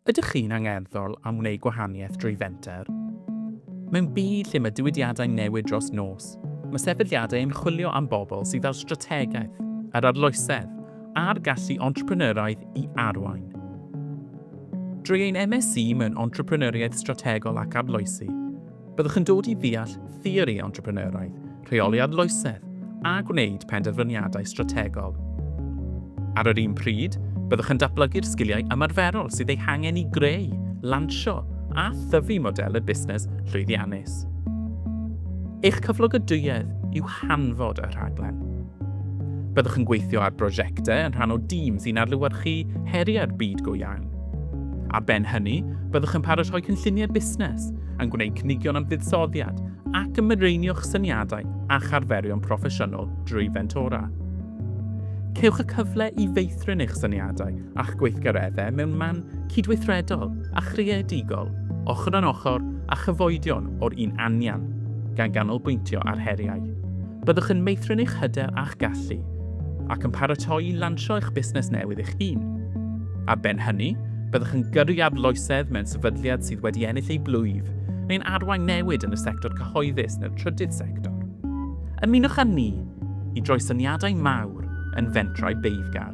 Ydych chi'n angerddol am wneud gwahaniaeth drwy fenter? Mewn byd lle mae diwydiadau'n newid dros nos, mae sefydliadau yn chwilio am bobl sydd â'r strategaeth, yr arloesedd, a'r gallu entrepreneuraidd i arwain. Drwy ein MSc mewn Entrepreneuriaeth Strategol ac Arloesi, Byddwch yn dod i ddeall theori entrepreneuraidd, rheoli arloesedd a gwneud penderfyniadau strategol. Ar yr un pryd, byddwch yn datblygu'r sgiliau ymarferol sydd eu hangen i greu, lansio a thyfu modelau busnes llwyddiannus. Eich cyflogadwyedd yw hanfod y rhaglen. Byddwch yn gweithio ar brosiectau yn rhan o dîm sy'n adlewyrchu heriau'r byd go iawn. Ar ben hynny, byddwch yn paratoi cynlluniau busnes yn gwneud cynigion am fuddsoddiad ac yn mireinio'ch syniadau a'ch arferion proffesiynol drwy fentora. Cewch y cyfle i feithrin eich syniadau a'ch gweithgareddau mewn man cydweithredol a chreadigol, ochr yn ochr a chyfoedion o'r un anian, gan ganolbwyntio ar heriau. Byddwch yn meithrin eich hyder a'ch gallu, ac yn paratoi i lansio eich busnes newydd eich hun. Ar ben hynny, byddwch yn gyrru arloesedd mewn sefydliad sydd wedi ennill ei blwyf, neu'n arwain newid yn y sector cyhoeddus neu'r trydydd sector. Ymunwch â ni i droi syniadau mawr yn fentrau beiddgar.